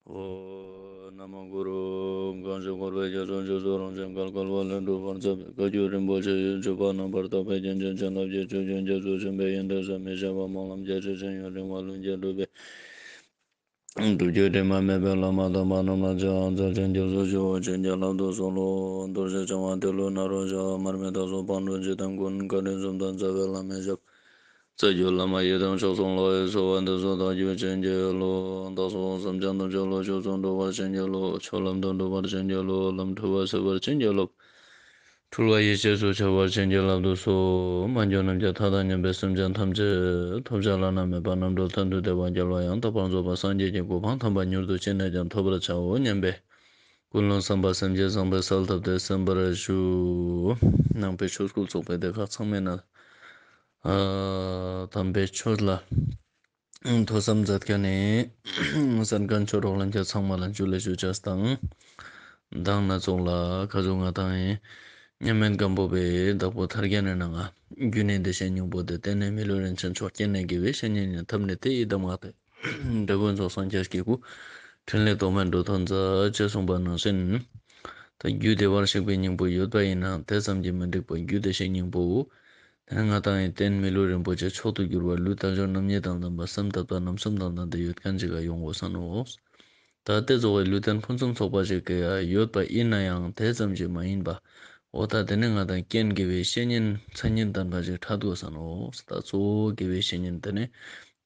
ཧོ། ན་མོ་གུ་རུ། གང་ཞིག་འཁོར་བའི་རྒྱ་མཚོ་འཇིག་ཚོགས་རང་བཞིན་གར་བསྐལ་པ་ལས་འགྲོལ་བར་མཛད་པའི་བཀའ་བརྒྱུད་རིན་པོ་ཆེ་ཡོད་བརྗོད་པ་རྣམ་པར་དག་པའི་རྒྱན་ཆེན་བྱིན་རླབས་ཀྱི་ཆུ་རྒྱུན་རྒྱ་མཚོ་ཆེན་པོའི་ཡོན་ཏན་ཟད་མི་ཤེས་པ་སྨོན་ལམ་རྒྱ་ཆེ་ཅན་ཡུན་རིང་བ་ཀླུ་མཁྱེན་གྲུབ་པའི་སྒྲུབ་བརྒྱུད་དྲི་མ་མེད་པའི་བླ་མ་དམ་པ་རྣམས་ལ་ཆོས་ཨང་རྩ་ཆེན་རྒྱ་མཚོ་ཆུ་བོ་ཆེ་འཇའ་ལམ་དུ་གསུང་ལོ། མདོར་བྱས་བྱང་བ་དེ་ལོ་ན་རོ་བྱ་བ་མར་མེ་ད་སོགས་སྤང་གྲོལ་འཇིག་རྟེན་ཀུན་དགའ་དྲིན་གསུམ་དང་རྩ་བའི་བླ་མའི་ཞབས། རྩ་རྒྱུད་བླ་མ་ཡི་དམ་མཆོག་ཚོགས་ལྷ་ཡི་གསོལ་བ་འདེབས་སོ་བདག་རྒྱུད་བྱིན་གྱིས་རློབས། བདག་སོགས་སམ་བྱང་དུ་འཇོག་ལོ་ཆོས་ཚོགས་འགྲུབ་པར་བྱིན་གྱིས་རློབས། ཆོས་ལམ་དུ་འགྲུབ་པར་བྱིན་གྱིས་རློབས་ལམ་འཁྲུལ་བ་སེལ་བར་བྱིན་གྱིས་རློབས། འཁྲུལ་བ་ཡིད་བྱེད་སུ་ཆགས་པར་བྱིན་གྱིས་རླབས་དུ་སོ། མ་འགྱུར་རྣམ་རྒྱལ་མཐའ་དག་མཉམ་པའི་སེམས་ཅན་ཐམས་ཅད། ཐོབ་བྱ་བླ་ན་མེད་པ་རྣམ་གྲོལ་དོན་དུ་བདེ་བ་རྒྱལ་བ་ཡང་དག་པར་རྫོགས་པ་སངས་རྒྱས་ཀྱི་གོ་འཕང་དམ་པ་མྱུར་དུ་ཅི་ནས་ཀྱང་ཐོབ་པར་བྱའོ་སྙམ་པས། ཀུན་སློང་བསམ་པ་སེམས་བསྐྱེད་བཟང་པོའི་སར་བཏབ་སྟེ་གསན་པར་ཞུ། ནང་པའི་ཆོས་སྐོར་ཚོགས་པའི་སྡེ་ཁག་ཚང་མས་མནལ། དམ་པའི་ཆོས་ལ་ཐོས་བསམ་མཛད་མཁན་ནི་གསན་མཁན་མཆོག་གྲོགས་ལན་བརྒྱ་ཚང་མ་ལ་མཇུག་ལས་ཤོས་ཆ་དང་གདངས་སྣ་ཚོགས་ལ་ཁ་བྱོ་ང་དང་ཡིན་སྙམ་མན་སྒམ་པོ་པའི་བདག་པོ་དར་རྒྱས་ནས་ནང་ང་རྒྱུད་ནས་འདི་བཤད་སྙིང་པོ་འདི་བསྟན་ནས་མི་ལུས་རིན་ཆེན་མཆོག་སྐྱེས་ནས་དགེ་བའི་བཤེས་གཉེན་ཉན་ཐབས་ནི་དེ་ཡི་གདམས་ངག་སྟེ། འདོད་དགུ་རྫོགས་སངས་རྒྱས་ཀྱི་སྐུ། ཕྲིན་ལས་ཐོགས་མེད་འགྲོ་དོན་མཛད། ཅེས་གསུངས་པ་ནང་བཞིན། ད་རྒྱུད་སྡེ་བར་གཤེགས་པའི་སྙིང་པོ་ཡོད་པ་ཡིན་ནའང་དེ་ཙམ་གྱིས་མི་འགྲིག་པ་རྒྱུད་སྡེ་ཞེས་སྙིང་པོའོ། དེ་སྔ་ཏང་ཡོན་བསྟན་མི་ལུས་རིན་པོ་ཆེ་མཆོག་ཏུ་གྱུར་པ་ལུས་རྟ་མཆོག་རྣམ་གཉིས་དང་བདམས་པ་སེམས་དབབ་རྟ་རྣམ་གསུམ་དང་ལྡན་ཏེ་ཡོད་མཁན་གཅིག་ལ་ཡོང་དགོས་བསམ་མོ། ད་ལྟའི་རྫོགས་བའི་ལུས་རྟེན་ཕུན་སུམ་ཚོགས་པ་ཞིག་ཡོད་པ་ཡིན་ན་ཡང་དེ་ཙམ་ཞིག་མ་ཡིན་པ། འོ་ད་དེ་ནི་ང་དང་རྐྱེན་དགེ་བའི་བཤེས་གཉེན་མཚན་ཉིད་ལྡན་པ་ཞིག་འཁྲབ་དགོས་ས་ནོ་ད་གཙོ་བོ་དགེ་བའི་བཤེས་གཉེན་དེ་ནི་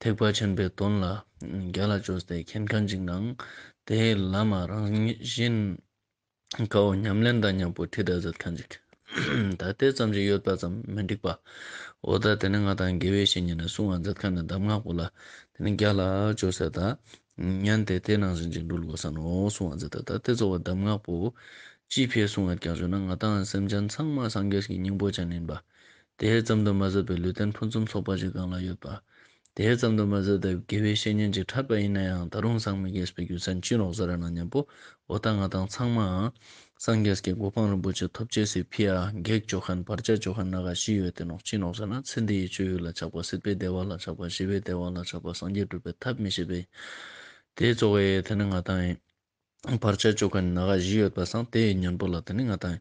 ཐེག་པ་ཆེན་པོའི་དོན་ལ་རྒྱ་ལ་བཅོལ་ཏེ་མཁྱེན་ག་འཇིགས་ནའང་དེའི་ལམ་རང་བཞིན། དགའ་བོ་ཉམས་ལེན་དང་མྱང་པོ་ཐིག་གྲགས་ཚད་ལྡན་གྱིས། ད་ལྟའི་ཙམ་གྱི་ཡོད་པ་ཙམ་མི་འགྲིག་པ། འོ་ད་དེ་ནི་ང་དང་དགེ་བའི་བཤེས་གཉེན་ནས་གསུང་བ་མཛད་ཁ་ནས་གདམས་ངག་པོ་ལ་དེ་ནི་རྒྱ་ལ་བཅོལ་ཟེར་ད། མཉན་ཏེ་དེ་ནང་བཞིན་གྱི་འགྲོ་ལུགས་པ་ཟ་ནོ་གསུང་བ་མཛད་ད་ད་དེ་གཙོ་བོ་གདམས་ངག་པོ། སྤྱི་ཕལ་གསུང་བར་ཀྱང་བྱོས་ན་ང་དང་སེམས་ཅན་ཚང་མ་སངས་རྒྱས་ཀྱི་སྙིང་པོ་ཅན་ཡིན་པ། དེ་ཙམ་དུ་མ་ཟད་པའི་ལུས་རྟེན་ཕུན་སུམ་ཚོགས་པ་ཞིག་གང་ལ་ཡོད་པ། དེ་ཙམ་དུ་མ་ཟད་དེབ་དགེ་བའི་བཤེས་གཉེན་གྱིས་འཁྲབ་པ་ཡིན་ན་ཡང་ད་རུང་སངས་མི་རྒྱས་པའི་རྒྱུ་མཚན་ཅི་རོགས་ཟེར་ར་ན་སྙམ་པོ། འོ་ད་ང་དང་ཚང་མའང། སངས་རྒྱས་ཀྱི་གོ་འཕང་རིན་པོ་ཆེ་ཐོབ་ཆེད་སི་ཕི་ཨ་བགེགས་ཇོ་ཁན་བར་ཆད་ཇོ་ཁན་ན་ག་བཞི་ཡོད་དེ་ནོག་ཅི་ནོག་ཟེར་ན་ཚེ་འདི་ཡི་སྤྱོད་ཡུལ་ལ་ཆགས་པ་སྲིད་པའི་བདེ་བ་ལ་ཆགས་པ་ཞི་བའི་བདེ་བ་ལ་ཆགས་པ་སངས་རྒྱས་སྒྲུབ་པའི་ཐབས་མི་ཤེས་པས། དེ་གཙོ་བོ་ཡེ་དེ་ནི་ང་དང་ཡིན། བར་ཆད་གཅོད་མཁན་ནག་བཞི་ཡོད་པ་སངས་དེ་ཡི་སྙིང་པོ་ལ་དེ་ནི་ང་དང།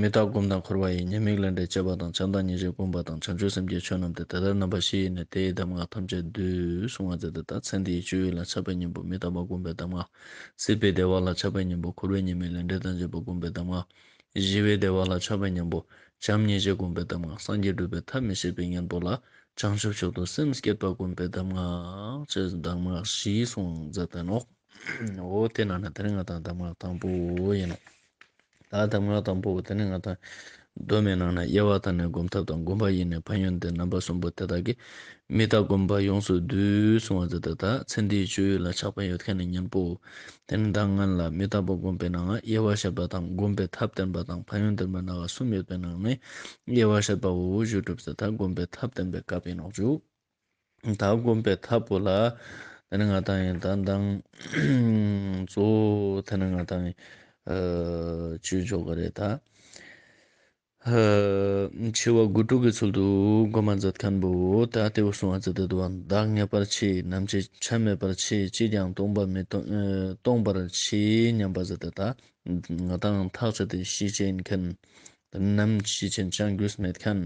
མི་རྟག་སྒོམ་དང་འཁོར་བ་ཡི་ཉེས་དམིགས་ལས་འབྲས་བཅས་པ་དང་བྱམས་དང་ཉེས་བྱས་བསྒོམ་པ་དང་བྱང་ཆུབ་སེམས་བསྐྱེད་ཆོས་རྣམས་ཏེ་དེ་ལྟར་རྣམ་པ་བཞི་ཡེ་ནས་དེ་ཡི་གདམས་ངག་ཐམས་ཅད་བསྡུས་གསུང་བ་མཛད་དེ་ད་ཚེ་འདི་ཡི་སྤྱོད་ཡུལ་ལ་ཆགས་པའི་གཉེན་པོ་མི་རྟག་པ་སྒོམ་པའི་གདམས་ངག། སྲིད་པའི་བདེ་བ་ལ་ཆགས་པའི་གཉེན་པོ་འཁོར་བའི་ཉེས་དམིགས་ལས་འབྲས་དང་བཅས་པ་སྒོམ་པའི་གདམས་ངག། བཞི་བའི་བདེ་བ་ལ་ཆགས་པའི་གཉེན་པོ། བྱམས་སྙིང་རྗེ་བསྒོམ་པའི་གདམས་ངག་སངས་རྒྱས་སྒྲུབ་པའི་ཐབས་མི་ཤེས་པའི་གཉེན་པོ་ལ། བྱང་ཆུབ་མཆོག་ཏུ་སེམས་བསྐྱེད་པ་བསྒོམ་པའི་གདམས་ངག། ཅེས་གདམས་ངག་བཞིའི་གསུང་མཛད་དོན་ནོ། འོ་དེ་རྣམས་ནི་དེ་ནི་ང་དང་གདམས་ངག་དང་པོ་ཡིན་ནོ། ད་གདམས་ངག་དང་པོ་བོ་དེ་ནི་ང་དང། གདོད་མའི་ནང་ན་དབྱེ་བ་དང་ནི་བསྒོམ་ཐབས་དང་བསྒོམ་པ་ཡི་ནི་ཕན་ཡོན་ཏེ་རྣམ་པ་གསུམ་པོ་དེ་དག་གིས། མི་རྟག་བསྒོམ་པ་ཡོངས་སུ་བསྡུས་གསུང་བ་མཛད་དོ། ད་ཚེ་འདིའི་སྤྱོད་ཡུལ་ལ་ཆགས་པའི་ཡོད་མཁན་ནི་གཉེན་པོའོ། དེ་ནི་ད་ངན་ལ་མི་རྟག་པར་བསྒོམས་པས་ནའང་དབྱེ་བར་བཤད་པ་དང་བསྒོམ་པའི་ཐབས་བསྟན་པ་དང་ཕན་ཡོན་བསྟན་པ་ན་བ་གསུམ་ཡོད་པའི་ནང་ནས་དབྱེ་བར་བཤད་པ་འོ་བུ་བཞུགས་གྲུབ་ཚེ་ད་བསྒོམ་པའི་ཐབས་བསྟན་པའི་སྐབས་ཡིན་ནོག་འཇུག་ད་བསྒོམ་པའི་ཐབས་པོ་ལ་དེ་ནི་ང་ད་ཡིན་ད་མདང་གཙོ་བོ་དེ་ནི་ང་ད་ཡིན། བཅུད་འཇོག་གི་རེད་ད། ཧཱུྃ། འཆི་བ་དགུ་དྲུག་གི་ཚུལ་དུ་སྒོ་མ་མཛད་མཁན་པོ་ད་ལྟའི་བུ་སྲུང་བ་ཙི་ཏི་དུ་བ་བདག་ངེས་པར་མཆི་ནམ་ཅི་ཆ་མེད་པར་མཆི་ཅིས་ཀྱང་སྟོང་པ་མི་སྟོང་པར་མཆི་སྙམ་པ་ཙི་ཏི་ད་ང་དང་ཐག་ཆོད་དེ་ཤི་བྱེད་མཁན། དེ་ནམ་ཤི་བྱེད་ཅང་རྒྱུས་མེད་མཁན།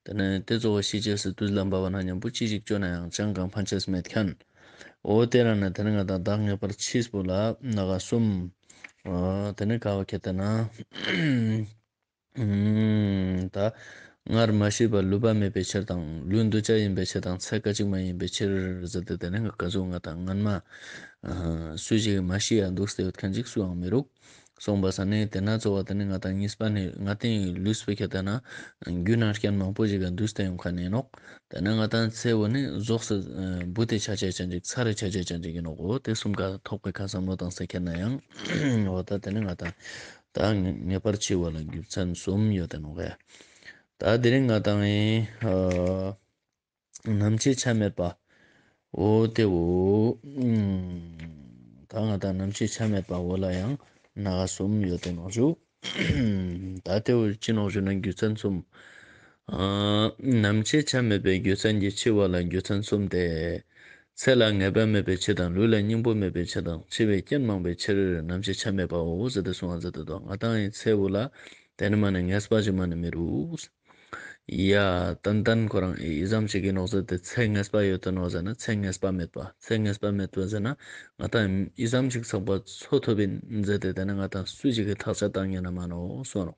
དེ་ནས་དེ་གཙོ་བོ་ཤི་བྱེད་སི་ཏུས་ལ་འབར་བ་ན་མཉམ་པོ་ཅི་ཞིག་སྤྱོད་ན་ཡང་ཅང་གང་ཕན་ཆད་མེད་མཁན། འོ་དེ་རང་ནས་དེ་ནས་ང་དང་བདག་ངེས་པར་མཆིས་པོ་ལ་ན་ག་གསུམ། དེ་ནས་ཁ་བ་ཁད་དེ་ན། ད། སྔར་མ་ཤེས་པར་ལུས་པ་མེད་པའི་ཕྱིར་དང། ལུས་འདུ་བྱ་ཡིན་པའི་ཕྱིར་དང་ཚད་ཀ་གཅིག་མ་ཡིན་པའི་ཕྱིར། ཟེར་ཏེ་དེ་རིང་གི་བཀའ་ཟུར་ང་དང་ངར་མ། སུ་ཞིག་གིས་མ་ཤེས་ཡ་འདུག་ཟེར་བའི་ཐེངས་གཅིག་སུའང་མི་རུང། གསུངས་པ་ཟ་ནི་དེ་ན་ཚོར་བ་དེ་ནི་ང་དང་གཉིས་པ་ནི་ང་སྟེ་ལུས་སྤུ་ཁྱེར་ལྟ་ན། རྒྱུད་ན་རྐྱེན་མང་པོ་ཞིག་གིས་འདུས་སྟེ་ཡོང་ཁ་ནས་ནོག། དེ་ན་ང་དང་ཚེ་བོ་ནི་རྫོགས་སུ་འབུ་དེ་ཆ་བྱད་ཅན་ཅིག་ཚ་རེ་ཆ་བྱད་ཅན་ཅིག་ཡིན་ནོག་གོ་དེ་གསུམ་ག་ཐོག་པའི་ཁ་བསམ་བློ་དང་ཟེར་ཁྱེར་ན་ཡང། འོ་ད་དེ་ནི་ང་དང། དང་ངེས་པར་འཆི་བ་ལ་རྒྱུ་མཚན་གསུམ་ཡོད་དེ་ནོ། ད་དེ་རིང་ང་དང་ཨེ་ནམ་འཆི་ཆ་མེད་པའོ། དེའོ། ད་ང་དང་ནམ་འཆི་ཆ་མེད་པའོ་ལ་ཡང་ན་གསུམ་ཡོད་དེ་ནོ། ད་དེའོ་འཆི་ནོ་ཞུ་ན་རྒྱུ་མཚན་གསུམ། ནམ་འཆི་ཆ་མེད་པའི་རྒྱུ་མཚན་གྱིས་འཆི་བ་ལ་རྒྱུ་མཚན་གསུམ་སྟེ། ཚེ་ལ་ངེས་པ་མེད་པའི་ཕྱིར་དང་ལུས་ལ་སྙིང་པོ་མེད་པའི་ཕྱིར་དང་འཆི་བའི་རྐྱེན་མང་པའི་ཕྱིར་ནམ་འཆི་ཆ་མེད་པའོ། ང་དང་ཡི་ཚེ་བུ་ལ་དེ་ནི་མ་ནི་ངས་སྤ་ཅི་མ་ནི་མི་རུས། ཡ། ཏན་ཏན་ཁོ་རང་ཨི་ཟམ་ཞིག་གིས་ནོག་ཟེར་ཏེ་ཚེ་ངས་སྤ་ཡོད་དོ་ནོག་ཟེར་ན་ཚེ་ངས་སྤ་མེད་པ་ཚེ་ངས་སྤ་མེད་དོ་ཟེར་ན་ང་དང་ཨི་ཟམ་ཞིག་ཚགས་པར་འཚོ་ཐུབ་པའི་མཛད་དེ་དེ་ནི་ང་དང་སུ་ཅིག་གི་ཐག་ཆ་དང་ཉེ་ན་མ་ནོག་སོ་ནོག་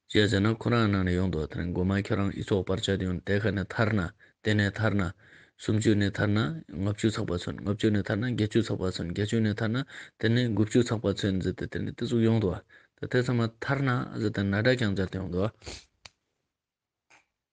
ཅེས་ཟེར་ན་ཁོ་རང་ནང་ནས་ཡོང་འདུག་དེ་ནས་མགོ་མ་ཁྱོད་རང་ཨི་ཚོགས་པར་བཅར་ཡོང་དེ་ག་ནས་ཐར་ན་དེ་ནས་ཐར་ན། སུམ་བཅུ་ནས་ཐར་ན་ལྔ་བཅུ་ཚགས་པ་ཚུན་ལྔ་བཅུ་ནས་ཐར་ན་བརྒྱད་བཅུ་ཚགས་པ་ཚུན་བརྒྱད་བཅུ་ནས་ཐར་ན་དེ་ནས་དགུ་བཅུ་ཚགས་པ་ཚུན་ཟེར་ཏེ་དེ་ནས་དེ་ཚོ་ཡོང་འདུག་དེ་ཚང་མ་ཐར་ན་ཟེར་ཏེ་ན་བྲག་ཀྱང་བཅར་ཏེ་ཡོང་འདུག།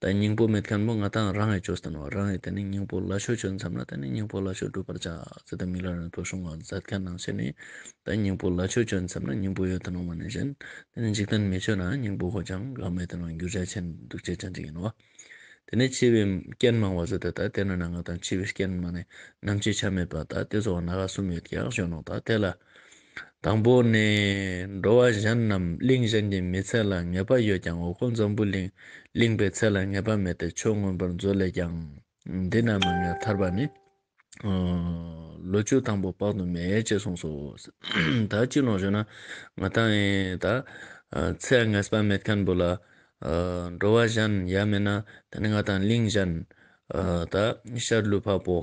ད་སྙིང་པོ་མེད་མཁན་མོ་ང་དང་རང་ཡི་ཇོ་སྟོན་བ་རང་ཡིས་དེ་ནས་སྙིང་པོ་ལ་ཆོས་བྱོན་མཚམས་ལ་དེ་ནས་སྙིང་པོ་ལ་ཆོས་བསྒྲུབ་པར་བྱ་ཟེར་ཏེ་མིག་ལ་རང་ཐོ་ཤོང་བ་མཛད་དཀའི་སྣང་བྱེད་ནི། ད་སྙིང་པོ་ལ་ཆོས་བྱོན་མཚམས་ན་སྙིང་པོ་ཡོད་དུ་སྣང་བ་ནས་བཞིན་དེ་ནས་འཇིག་རྟེན་མི་ཆོས་ན་སྙིང་པོ་ཧོ་ཅང་གང་མེད་དུ་སྣང་རྒྱུ་རྒྱ་ཆེན་འདུག་ཅེས་བྱ་འཇིག་ཡིན་ནོ། དེ་ནས་འཆི་བའི་རྐྱེན་མང་བ་བཟོད་དེ་ད་དེ་ན་ན་ང་དང་འཆི་བའི་རྐྱེན་མང་ནས་ནམ་འཆི་ཆ་མེད་པ་ད་དེ་སོགས་ན་ག་གསུམ་ཡོད་ཀྱང་གཞོན་ནུ་ད་དེ་ལ། དང་པོ་ནི། འགྲོ་བ་གཞན་རྣམས་གླིང་གཞན་གྱི་མི་ཚད་ལ་ངེས་པ་ཡོད་ཀྱང་འོག་སྒོ་འཛམ་བུའི་གླིང་གླིང་པའི་ཚད་ལ་ངེས་པ་མེད་དེ་ཆོས་མངོན་པར་མཛོད་ལས་ཀྱང་འདི་རྣམས་ལ་ངེས་ཐར་པ་ནི། ལོ་བཅུ་དང་པོ་དཔག་ཏུ་མེད་ཅེས་གསུངས་སོ། ད་ཅི་ལོག་ཞུ་ན་ང་ད་ཨེ་ད། ཚད་ངེས་པ་མེད་མཁན་པོ་ལ། འགྲོ་བ་གཞན་ཡ་མེད་ན་དེ་ནི་ང་དང་གླིང་གཞན། ད་ཤར་ལུས་འཕགས་པོ།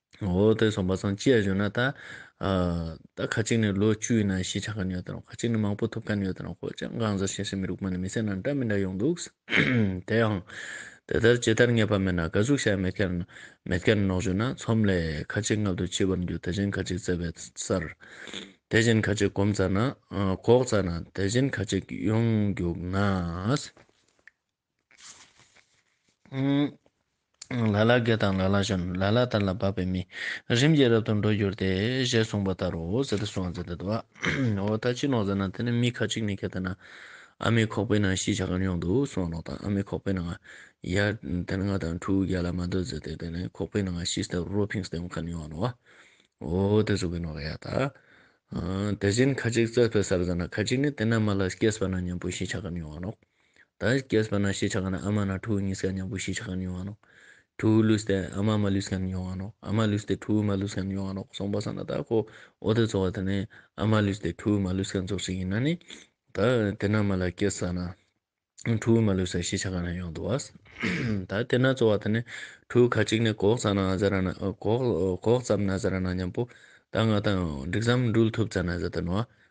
འོ་དེ་སོང་པ་སང་ཅི་ཡ་ཞུ་ན་ད་ད་ཁ་ཅིག་ནས་ལོ་བཅུའི་ནང་ཤི་ཆག་ག་ནི་ཡོད་དང་རོང་ཁ་ཅིག་ནས་མང་པོ་ཐུབ་ག་ནི་ཡོད་དང་རོང་ཁོ་ཅག་འགངས་ཟ་ཤེས་སའི་མི་རུག་པ་ནི་མི་སེར་ནང་འདྲ་མི་འདྲ་ཡོང་འདུག་དེ་ཡང་དེ་ལྟར་ཇི་ལྟར་ངེས་པ་མེད་ན་དགའ་ཟུག་བྱས་མེད་ཁར་མེད་ཁར་ནོག་ཞུ་ན་ཚོམ་ལས་ཁ་ཅིག་མངལ་དུ་འཆི་བར་འགྱུར་དེ་བཞིན་ཁ་ཅིག་བཙས་པའི་སར་དེ་བཞིན་ཁ་ཅིག་གོམ་བཙའ་ན་གོག་བཙའ་ན་དེ་བཞིན་ཁ་ཅིག་ཡོང་རྒྱུག་ན། ལ་ལ་དགེ་དང་ལ་ལ་གཞོན། ལ་ལ་དར་ལ་བབས་པའི་མི། རིམ་གྱིས་རབ་ཏུ་འགྲོ་འགྱུར་ཏེ། ཞེས་གསུངས་པ་ལྟར་རོ། ཟེར་ཏེ་གསུངས་ཟེར་ཏེ་བ། འོ་ད་ཅི་ལོག་ཟེར་ན་དེ་ནི་མི་ཁ་ཅིག་ནི་གལ་ཏེ་ན། ཨ་མའི་ཁོག་པའི་ནང་ཤི་བྱ་གར་ཡོང་འདུག་གསུངས་བ་ལོག་དང་ཨ་མའི་ཁོག་པའི་ནང། ཡ། དེ་ནི་ང་དང་ཕྲུག་གུ་བརྒྱ་ལ་མ་སྡོད་ཟེར་ཏེ་དེ་ནི་ཁོག་པའི་ནང་ཤི་སྟེ་རོ་ཕིང་སྟེ་འོང་གར་ཡོང་བ་ལོག། འོ་དེ་གཟུགས་ཀྱི་ནོར་ག་ཡ་ད། དེ་བཞིན་ཁ་ཅིག་རྩྭ་ཕོད་སར་ཟེར་ན་ཁ་ཅིག་ནི་དེ་ན་མ་ལ་སྐྱེས་པ་ན་གཉེན་པོ་ཤི་བྱ་གར་ཡོང་བ་ལོག། ད་སྐྱེས་པ་ན་ཤེས་བྱ་གང་ན་ཨ་མ་ན་ཁྲོ་བོའི་ངན་སྐལ་མྱང་པོ་ཤེས་བྱ་གང་ན་ཡོང་བ་ནོ། ཁྲོ་བོའི་ལུས་ཏེ་ཨ་མ་མ་ལུས་སྐལ་ན་ཡོང་བ་ནོ། ཨ་མ་ལུས་ཏེ་ཁྲོ་བོའི་མ་ལུས་སྐལ་ན་ཡོང་བ་ནོ་གསུངས་པ་ས་ན་དག་གོ། འོ་དེ་རྫོགས་བ་དེ་ནི་ཨ་མ་ལུས་ཏེ་ཁྲོ་བོའི་མ་ལུས་སྐལ་རྫོགས་བྱེད་ཡིན་ན་ནི། ད་དེ་ན་མ་ལ་སྐྱེས་ས་ན། ཁྲོ་བོའི་མ་ལུས་སྐལ་ཤེས་བྱ་གང་ན་ཡོང་འདུག་བ། ད་དེ་ན་རྫོགས་བ་དེ་ནི་ཁྲོ་བོའི་ཁ་ཅིག་ནི་གོག་ཙམ་ན་ཟ་ར་ན་གོག་ཙམ་ན་ཟ་ར་ན་མྱང་པོ། ད་ང་དང་འགྲིག་ཟམ་འགྲུལ་ཐུབ་ཙམ་ན་ཟ་ད་ནོ།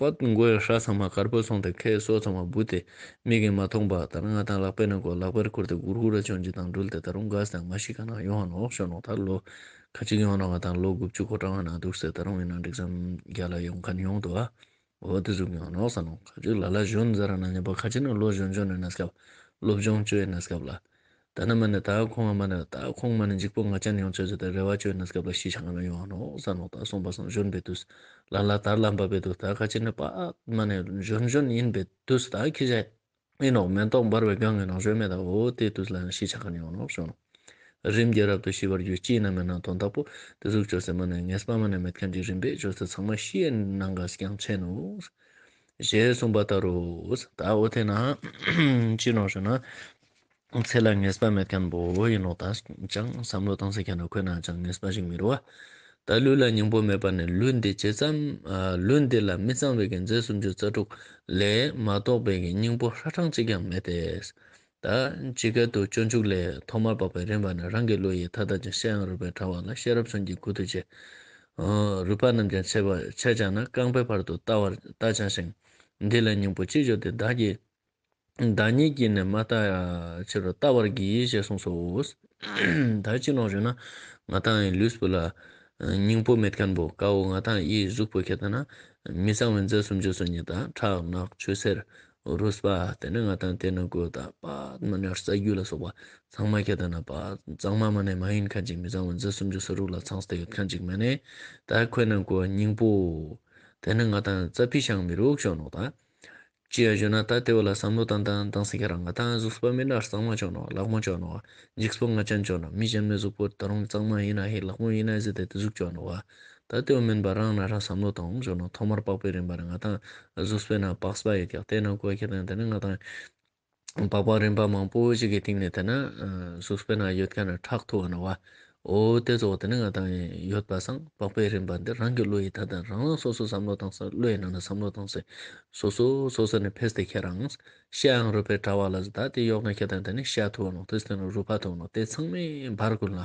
པདྨ་མགོན་ཧྲཱི་ཚང་མ་དཀར་པོ་སོང་སྟེ་ཁའི་སོ་ཚང་མ་སྦུད་དེ་མིག་གིས་མ་མཐོང་པ་ལྟར་ངག་དང་ལག་པས་ནི་མགོ་ལག་པར་ཁུར་ཏེ་གུར་གུར་ར་ཅོ་འཇིགས་དང་སྦྲུལ་དེ་ད་རུང་དགའ་ཟེར་ན་མ་ཤི་ཁ་ནང་ཡོང་ནོག་ཤོར་ནོག་ད་ལོ་ཁ་གཅིག་ཡོང་རུང་བ་དང་ལོ་དགུ་བཅུ་གོ་གྲངས་བ་ན་འདུག་ཟེར་ད་རུང་ཡིན་ན་འགྲིག་བསམ་རྒྱ་ལ་ཡོང་ཁ་ནི་ཡོང་དུ་བ་འོ་དེ་ཟུག་ཡོང་ནོག་ཟ་ནོག་ཁ་གཅིག་ལ་ལ་གཞོན་ཛ་ར་ན་ཉན་པ་ཁ་གཅིག་ནི་ལོ་གཞོན་གཅོ་ནས་ན་སྐབས་སློབ་སྦྱོང་བཅོས་ན་སྐབས་ལ་ད་ནི་མ་ནི་དག་ཁོང་བ་མ་ནི་དག་ཁོང་མ་ནི་འཇིག་པོ་ང་རྒྱལ་ནི་ཡང་ཚོད་ཟད་དེ་རེ་བ་བཅོལ་ནས་སྐབས་ལ་ཤི་བྱང་ང་མི་ཡོང་བ་ནོག་ས་ནོག་དག་སོང་པ་སོང་བཞོན་པའི་དུས་ལ་ལ་དར་ལ་འབབ་པའི་དུས་དག་ཁ་ཆེ་ནི་པདྨ་ནི་བཞོན་བཞོན་ཡིན་པའི་དུས་དག་ཁྱི་ཤ་ཨེ་ནོག་མེ་ཏོག་འབར་བའི་སྒང་ངའི་ནང་བཞོན་མེ་དག་འོ་དེའི་དུས་ལ་ཡང་ཤི་བྱང་ང་ནི་ཡོང་ནོག་བཞོན་ནོག་རིམ་གྱིས་རབ་ཏུ་ཤི་བར་གྱུར་སྐྱིད་ན་མེད་ན་དོན་དག་པོ་དེ་གཟུགས་བཅོལ་ཟེར་མ་ནི་ངས་པདྨ་ནི་མེད་མཁན་གྱི་རིམ་པས་བཅོལ་ཚེ་ཚང་མ་ཤི་ཡི་ནང་ག་རྐྱང་ཆད་ནུ། ཞེས་གསུངས་པ་ལྟར་རོ། ད་འོ་དེས་ན། ཅི་ནོག་བཞོན་ན། ཚེ་ལ་ངེས་པ་མེད་མཁན་པོ་ཡིན་ནོ་ད་ཅང་བསམ་བློ་གཏང་སའི་གན་ན་འཁོད་ན་ཅང་ངེས་པ་ཞིག་མི་རུ་བ། ད་ལུས་ལ་སྙིང་པོ་མེད་པ་ནི་ལུས་འདི་ཇི་ཙམ། ལུས་འདི་ལ་མི་གཙང་བའི་གན་རྫས་སུམ་ཅུ་རྩ་དྲུག་ལས་མ་གཏོགས་པའི་གན་སྙིང་པོ་ཧྲ་གྲངས་གཅིག་ཀྱང་མེད་དེ། ད་ཇི་སྐད་དུ་སྤྱོད་འཇུག་ལས་ཐོག་མར་བབ་པའི་རིམ་པ་ནི་རང་གི་ལུས་ཡི་མཐའ་དག་ཅིང་ཤེས་ཡང་རུས་པའི་ཕྲ་བ་ལ་ཤེས་རབ་མཚོན་གྱི་སྐུ་དུ་བྱས། རུས་པ་རྣམས་ཀྱང་ཆད་ཀྱང་ན་རྐང་པའི་བར་དུ་བལྟ་བར་བལྟ་བྱ་ཞིང། འདི་ལ་སྙིང་པོ་ཅི་བརྗོད་དེ་བདག་གིས། བདག་ཉིད་ཀྱིས་ནི་མ་བརྟགས་ཕྱིར་རོ། བརྟགས་པར་གྱིས་ཞེས་གསུངས་སོ། ད་ཅི་ལོག་བྱུང་ན། ང་དང་ཨའི་ལུས་སྤུ་ལ། སྙིང་པོ་མེད་དཀར་འབོ་དཀར་བོ་ང་དང་ཨའི་གཟུགས་པོ་ཁྱེད་ལྟ་ན། མི་གཙང་བའི་མཛེས་སུ་འཇུག་སོ་ཉི་ཟླ་ཁྲག་ནག་ཆུ་སེར་རུས་པ་དེ་ནི་ང་དང་དེ་ནི་གོས་དག་པདྨ་ཉར་ས་རྒྱུ་ལ་སོགས་པ་ཚང་མ་ཁྱེད་ལྟ་ན། གཙང་མ་མ་ནས་མ་ཡིན་ཁ་ཅིག་མི་གཙང་བའི་མཛེས་སུ་འཇུག་སོ་རུས་ལ་ཚངས་སྟེ་ཡོད་ཁ་ཅིག་མ་ནས་དག་གོས་ནང་གོ་སྙིང་པོ། དེ་ནི་ང་དང་རྩ་བི་ཤང་མི་རུག་ཤོ་ནོག་དག། ཅི་ཡང་བརྗོད་ན་ད་ལྟའི་བོད་ལ་བསམ་བློ་དང་དང་དང་སེང་གེ་རང་ང་ད་གཟུགས་སྤ་མི་ནག་གཙང་མ་ཅོག་ནོ་ལག་མོ་ཅོག་ནོ་འཇིགས་སྤོ་ང་ཅན་ཅོག་ནོ་མི་གཞན་མི་གཟུགས་པོ་ད་རུང་གཙང་མ་ཡིན་ན་ཧེ་ལག་མོ་ཡིན་ན་གཟི་དེ་དེ་གཟུགས་ཅོག་ནོ་བ་ད་ལྟའི་བོ་མིན་པ་རང་ན་རང་བསམ་བློ་དང་འོང་ཅོག་ནོ་ཐོག་མར་པགས་པའི་རིན་པ་ནི་ང་དང་གཟུགས་སྤོས་ནང་པགས་སྤ་ཡོད་ཀྱང་ལྟས་ནང་ཀོ་ཁེ་དང་དེ་ནི་ང་དང། སྦག་སྦག་རིམ་པ་མང་པོ་ཞིག་གི་སྟེང་ནས་བལྟས་ན། གཟུགས་སྤེལ་ན་ཡོད་མཁན་ལ་ཁྲག་འཐུ་བ་ན་བ། འོ་དེ་ཚོ་དེ་ནི་ང་དང་ཡོད་པ་སངས་སྦག་པའི་རིམ་པ་འདི་རང་གི་བློ་ཡིས་ད་ལྟ་རང་རང་སོ་སོའི་བསམ་བློ་བཏང་ས་བློ་ཡི་ནང་ནས་བསམ་བློ་བཏང་ཟེར། སོ་སོ་སོ་སོ་ནས་ཕེས་ཏེ་ཁྱེད་རང། ཤའང་རུས་པའི་དྲ་བ་ལ་བཟི་ད་དེ་གཡོག་ན་ཁྱེད་དང་དེ་ནི་ཤ་འཐུ་བ་ནོ་དེ་སྟེང་ན་རུས་པ་འཐུ་བ་ནོ་དེ་ཚང་མས་འབར་དགོས་ལ།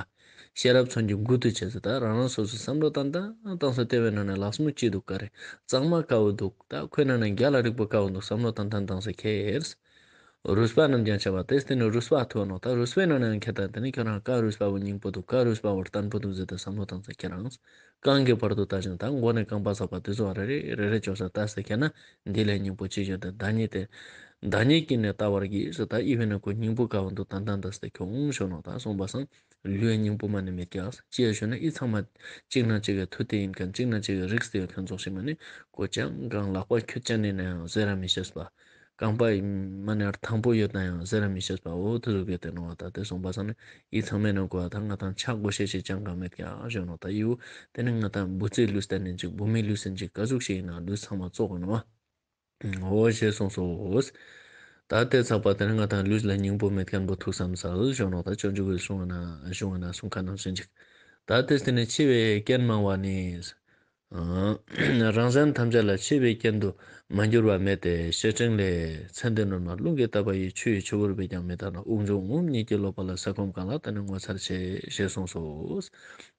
ཤེས་རབ་མཚོན་གྱི་མགུར་དུ་བྱས་ཚུལ་ལྟར་རང་རང་སོ་སོའི་བསམ་བློ་དང་ལྟ་སྟངས་སུ་ལྟེ་བའི་ནང་ན་ལག་ཟུང་གཅིག་འདུག་ག་རེ་གཙང་མ་དཀར་བོ་འདུག་ད་ཁོའི་ནང་ན་རྒྱ་ལ་རིག་པ་དཀར་བོ་འདུག་བསམ་བློ་དང་ལྟ་སྟངས་སུ་ཁེལ། རུས་པ་རྣམས་ཀྱང་བྱ་བ་སྟེ་དེ་ནི་རུས་པ་ཐུ་བ་ནོག་ད་རུས་པའི་ནང་ན་ཡང་ཁེལ་ད་དེ་ནི་ཁྱོད་རང་དཀར་རུས་པ་བོ་སྙིང་པོ་འདུག་དཀར་རུས་པ་བོར་ལྟ་འཕུར་འདུག་ཟེར་ད་བསམ་བློ་དང་ལྟ་ཁྱེད་རང་རྐང་གི་བར་དུ་བཏགས་ཅིང་དང་མགོ་ནས་རྐང་པ་ཚ་བ་དུས་ཚོད་རེ་རེ་རེ་རེ་འཇོག་ས་ལྟ་ཟེར་མཁན་ན་འདི་ལས་སྙིང་པོ་ཅི་ཡོད་འདི་བདག་ཉིད་དེ། བདག་ཉིད་ཀྱིས་ནི་བལྟ་བར་གྱིས་སུ་ད་ཨི་བས་ན་ཁོའི་སྙིང་པོ་ག་བ་འདུག་ད་ད་འདི་ཟེར་ཁྱོད་འོང་ཞོག་ནོ་ད་གསུངས་པ་སངས་ལུས་སྙིང་པོ་མ་ནི་མི་སྐྱ་ཅེས་ཞུས་ན་ཨི་ཚང་མ། གཅིག་ན་གཅིག་གི་མཐུ་དེ་ཡིན་མཁན་གཅིག་ན་གཅིག་གི་རིགས་དེ་ཡོད་མཁན་རྫོགས་ཤིག་མ་ནི་ཀོ་ཅང་གང་ལགས་པ་ཁྱོད་ཅག་ནི་ནའང་ཟེར་ར་མི་ཤེས་པ། རྐང་པ་ཡི་མ་ནི་ཨར་དང་པོ་ཡོད་དང་ཡང་ཟེར་ར་མི་ཤེས་པའོ་དུ་རུ་གས་ཏེ་ནོ་བ་དང་དེ་གསུངས་པ་སང་ནི་ཡིད་ཚང་མས་ནི་གོ་བ་དང་ང་དང་ཆག་སྒོ་ཤས་ཆེ་ཅང་གང་མེད་ཀྱང་གཞོན་ནུ་དང་ཡིའུ་དེ་ནི་ང་དང་བུ་ཚའི་ལུས་གཏན་ནས་འཇིག་བུ་མོའི་ལུས་སུ་འཇིག་ཀ་གཟུགས་ཤིག་ཡིན་ན་ལུས་ཚང་མ་བཙོག་གོ་ནོ་བའོ་ཞེས་གསུངས་སོ། ད་ལྟའི་ཚགས་པར་དེ་ནི་ང་དང་ལུས་ལ་སྙིང་པོ་མེད་ཀྱང་འབུ་ཐུག་བསམ་ཚར་གཞོན་ནུ་དང་ཅོ་འཇུག་བས་བཟུང་བ་ན་བཟུང་བ་ན་གསུང་ཁ་ནང་བཞིན་འཇིག་ད་ལྟའི་ཚེ་ནི་འཆི་བའི་རྐྱེན་མང་བ་ནི། རང་སེམས་ཐམས་ཅད་ལ་ཆེས་པའི་རྐྱེན་དུ་མ་འགྱུར་བ་མེད་དེ་ཞེས་ཕྲིན་ལས་ཚན་དེ་ནོར་མ་རླུང་གིས་བཏབ་པ་ཡི་ཆུ་ཡི་ཆུ་བུར་བས་ཀྱང་མི་དག་ན་དབུགས་འབྱུང་ངོམས་གཉིས་ཀྱིས་ལོག་པ་ལ་ཟས་སྐོམ་གང་ལགས་ད་ནི་ངོ་མཚར་ཆེ་ཞེས་གསུངས་སོ།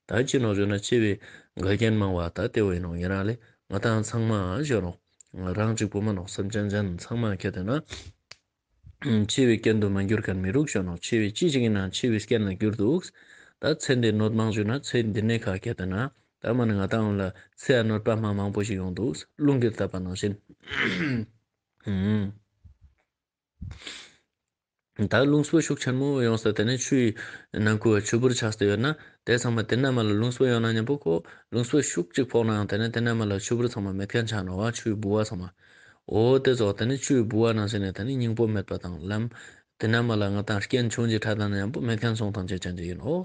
ད་ཅི་ནོག་བརྗོད་ན་ཆེས་པའི་འགལ་རྐྱེན་མང་བ་ད་ལྟེ་བ་ཡིན་ནོ་ངེད་རང་ལས་ང་དང་ཚང་མ་བཞོན་ནོ། རང་གཅིག་པུ་མ་ནོག་སེམས་ཅན་གཞན་ཚང་མ་ཁྱེད་དེ་ན། འཆི་བའི་སྐྱོན་དུ་མ་འགྱུར་གར་མི་རུག་ཤོ་ནོ་འཆི་བའི་ཅི་ཞིག་ཡིན་ནའང་འཆི་བའི་སྐྱོན་ལ་འགྱུར་འདུག་ད་ཚེ་འདི་ནོར་མང་བྱུང་ན་ཚེ་འདི་ནས་ཁ་གད་དོན་ན་ད་མ་ནི་ང་ད་འོང་ལ་ཚེ་ཡ་ནོར་པདྨ་མང་པོ་ཞིག་ཡོང་འདུག་རླུང་གིར་བཏབ་པ་ནང་བཞིན། ད་རླུང་སྤུ་ཤུགས་ཆེན་མོ་ཡོང་ས་དེ་ནས་ཆུ་ཡི་ནང་ཁུལ་བ་ཆུ་བུར་ཆགས་སུ་ཡོད་ན་དེ་ཚང་མ་དེ་རྣལ་མ་ལ་རླུང་སྤུ་ཡོང་ན་སྙམ་པོ་ཁོ་རླུང་སྤུ་ཤུགས་གཅིག་ཕོག་ནའང་དེ་ནས་དེ་རྣལ་མ་ལ་ཆུ་བུར་ཚང་མ་མེད་མཁན་ཆགས་ནོ་བ་ཆུའི་ལྦུ་བ་ཚང་མ་འོ་དེ་རྫོགས་ད་ནི་ཆུའི་ལྦུ་བ་ནང་ཞིག་ནས་ད་ནི་སྙིང་པོ་མེད་པ་དང་ལམ། དེ་ན་མ་ལ་ང་དང་རྐྱེན་བྱུང་གཅིག་ཕྲ་དང་ན་ཡང་པོ་མེད་མཁན་སོང་ཐམས་ཅད་ཅན་གྱི་ཡིན་ནོ།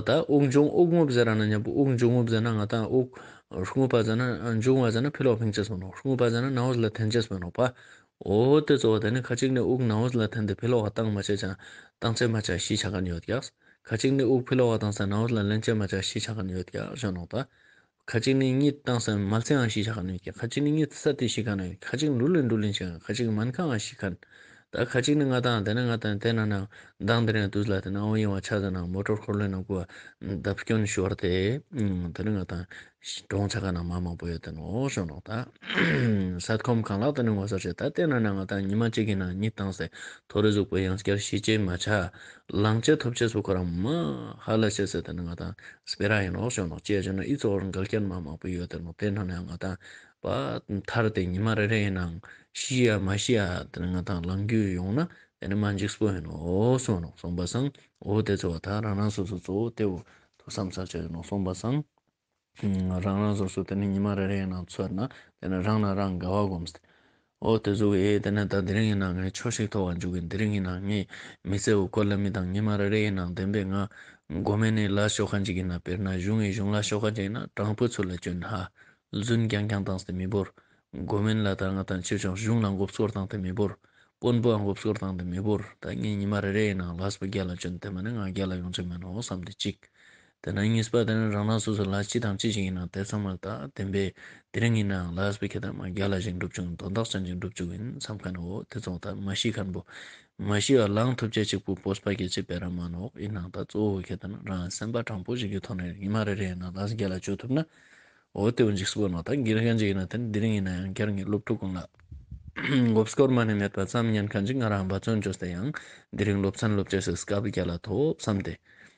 ད་དབུགས་འབྱུང་དབུགས་རྔུབ་ཟེར་ར་ན་ཡང་པོ་དབུགས་འབྱུང་རྔུབ་ཟེར་ན་ང་དང་དབུགས། རྔུབ་པ་ཟེར་ན་འབྱུང་བ་ཟེར་ན་ཕི་ལོག་ཕིང་ཅེས་སོང་ནོ་རྔུབ་པ་ཟེར་ན་ནའོ་ཟླ་ཐེན་ཅེས་སོན་ནོ་པ། འོ་དེ་རྫོགས་ད་ནི་ཁ་ཅིག་ནི་དབུགས་ནའོ་ཟླ་ཐེན་ཏེ་ཕི་ལོག་བ་ཏང་མ་བྱས་ཀྱང་ཏང་ཚད་མ་བྱ་ཞེས་བྱ་ག་ནི་ཡོད་ཀྱ། ཁ་ཅིག་ནི་དབུགས་ཕི་ལོག་བ་དང་ཟ་ནའོ་ཟླ་ལན་བྱས་མ་བྱ་ཞེས་བྱ་ག་ནི་ཡོད་ཀྱ་བཞོན་ནོ་ད། ཁ་ཅིག་ནི་གཉིད་བཏང་ས་མ་ཚད་ཨང་ཞིག་བྱ་ག་ནས་ཀྱི་ཁ་ཅིག་ནི་གཉིད་ས་དེ་ཞིག་ག་ནས་ཁ་ཅིག་འབྲུ་ལེན་འབྲུ་ལེན་བྱ་ག་ཁ་ཅིག་མན་ཁ་ཨང་ཞིག་ག་ད་ཁ་ཅིག་ནི་ང་དང་དེ་ནི་ང་དང་དེ་ན་ན་མདང་དེ་ནས་དུས་ལ་དེ་ན་ཨོ་ཡིན་བ་ཆ་ཟེར་ན་མོ་ཏྲོར་འཁོར་ལོའི་ནང་སྐུ་བརྡབ་སྐྱོན་ཞུ་བར་དེ་དེ་ནི་ང་དང་གྲོང་ཆ་ག་ན་མ་མང་པོ་ཡོད་དེ་ནོ་ཞོ་ནོག་ད་སཱད་ཁོམ་གང་ལག་དེ་ནི་ངོ་སོར་བྱེད་ད་དེ་ན་ན་ང་དང་ཉི་མ་གཅིག་གི་ནང་གཉིད་བཏང་སའི་ཐོ་རེ་གཟུགས་པོ་ཡང་སྐྱར་ཤི་བྱེད་མ་བྱ་ལང་ཆའི་ཐོབ་ཆས་སུ་ཁོ་རང་མ་ཧཱ་ལ་ཤཱི་སེ་དེ་ནི་ང་དང་སྤེ་ར་ཡིན་ནོག་ཤོད་ནོག་ཅེས་བྱས་ན་ཨི་ཚོགས་རང་འགལ་རྐྱེན་མ་མང་པོ་ཡོད་དེ་ནོག་དེའི་ནང་ནས་ང་དང་བ་ཐར་ཏེ་ཉི་མ་རེ་རེ་ཡིན་ནའང་ཤི་ཡ་མ་ཤི་ཡ་དེ་ནི་ང་དང་ལང་རྒྱུ་ཡོང་ན་དེ་ནི་མ་འཇིགས་སྤོ་ཡིན་ནོག་སོང་ནོག་སོང་བ་སང་འོ་དེ་ཚོ་བ་ཐར་རང་རང་སོ་སོ་གཙོ་བོ་དེ་བོ་ཐོ་བསམ་ཚར་ཆ་ཡོད་ནོག་སོང་བ་སང། རང་རང་སོ་སོ་དེ་ནས་ཉི་མ་རེ་རེའི་ནང་ཚོད་ན་དེ་ནས་རང་ལ་རང་དགའ་བ་སྒོམས་ཏེ། ཨོ་དེ་གཟུགས་ཨེ་དེ་ནས་ད་དེ་རིང་ཡིན་ན་ངས་ཆོས་ཤིག་ཐོག་བར་འཇུག་གི་འདི་རིང་ཡིན་ན་ངས་མི་ཚེ་འུ་སྐོར་ལ་མི་དང་ཉི་མ་རེ་རེའི་ནང་བདེན་པའི་ང། སྒོ་མེད་ནས་ལ་ཤོ་ཁ་འཇིག་གི་ན་དཔེར་ན་གཞུང་ངས་གཞུང་ལ་ཤོ་ཁ་འཇིག་ན་དྲང་པོའི་ཚུལ་ལ་སྐྱོན་ཧ་ལུན་རྐྱང་རྐྱང་བཏང་སྟེ་མི་བོར། སྒོ་མེད་ལ་ད་ང་དང་ཁྱོད་ཀྱང་གཞུང་ལ་འགོབ་སྐོར་བཏང་སྟེ་མི་བོར། དཔོན་པོའང་འགོབ་སྐོར་བཏང་སྟེ་མི་བོར་ད་ངས་ཉི་མ་རེ་རེའི་ནང་ལ་སོ་བརྒྱ་ལ་སྐྱོན་དེ་མ་ནི་ང་བརྒྱ་ལ་ཡོང་ཆོག་མིན་ནོ་བསམ་སྟེ་གཅིག། དེ་ལ་གཉིས་པ་དེ་ནི་རང་རང་སོ་སོའི་ལག་ཅི་དང་ཅི་ཞིག་ཡིན་ནའང་དེ་ཚང་མར་དག་བདེན་པས་དེ་རིང་ཡིན་ནའང་ལག་སྤུས་ཁེ་དང་མ་བརྒྱ་ལ་ཞིག་འགྲུབ་བྱུང་དོ་བདག་ཅན་ཅིག་འགྲུབ་བཅུག་ཡིན་བསམ་ཁ་ནའོ་དེ་ཚོ་དག་མ་ཤི་ཁར་འབོ། མ་ཤི་བ་ལང་ཐུབ་ཅལ་ཅིག་པུ་པོ་སྤ་གེ་ཅིག་པའི་ར་མ་ནོག་ཡིན་ནའང་དག་གཙོ་བོ་ཁེ་དང་རང་གི་སེམས་པ་དྲང་པོ་ཞིག་གི་ཐོག་ནས་ཉི་མ་རེ་རེ་ཡིན་ནའང་ལག་བརྒྱ་ལ་སྤྱོད་ཐུབ་ནའོ་དེ་བོ་འཇིགས་སུ་བོ་ནོ་དག་གིར་མཁན་ཅིག་ཡིན་ན་དེ་ནི་དེ་རིང་ཡིན་ནའང་བསྐྱར་ངེད་སློབ་ཕྲུག་ཀུན་ལ་མགོ་སྐོར་མ་ནས་མེད་པ་ཙམ་ཉན་མཁན་ཅིག་ང་རང་འབའ་ཚོན་ཅོ་ཟེར་ཡང་དེ་རིང་སློབ་ཚན་སློབ་བྱེད་སའི་སྐབས་བརྒྱ་ལ་ཐོབ་བསམ་སྟེ་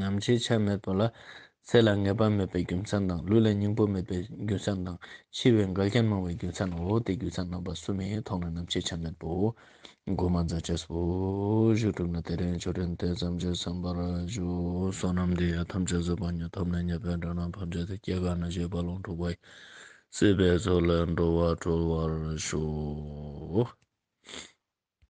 ནམ་འཆི་ཆ་མེད་པ་ལ་ཚེ་ལ་ངེས་པ་མེད་པའི་རྒྱུ་མཚན་དང་ལུས་ལ་སྙིང་པོ་མེད་པའི་རྒྱུ་མཚན་དང་འཆི་བའི་འགལ་རྐྱེན་མང་བའི་རྒྱུ་མཚན་ནོ་དེ་རྒྱུ་མཚན་རྣམ་པ་གསུམ་མའི་ཐོག་ནས་ནམ་འཆི་ཆ་མེད་པའོ། སྒོ་མ་འཛག་བྱས་སོ། བཞུགས་གྲུབ་ན་དེ་རིང་ཆོས་ཕྲན་དེ་ཙམ་གྱིས་ཚང་བར་བཞུགས་སོ་ནམ་འདི་ཡི་ཐམས་ཅད་བཟོད་པ་ཉིད་ཐོབ་ནས་ཉེ་བའི་འགྲོ་རྣམས་ཕམ་རྗེས་དེ་སྐྱེ་རྒ་ན་འཆི་བར་ལོངས་སྤྲུགས་པ་སྲིད་པའི་ཚོགས་ལས་འགྲོ་བ་གྲོལ་བར་ཤོག།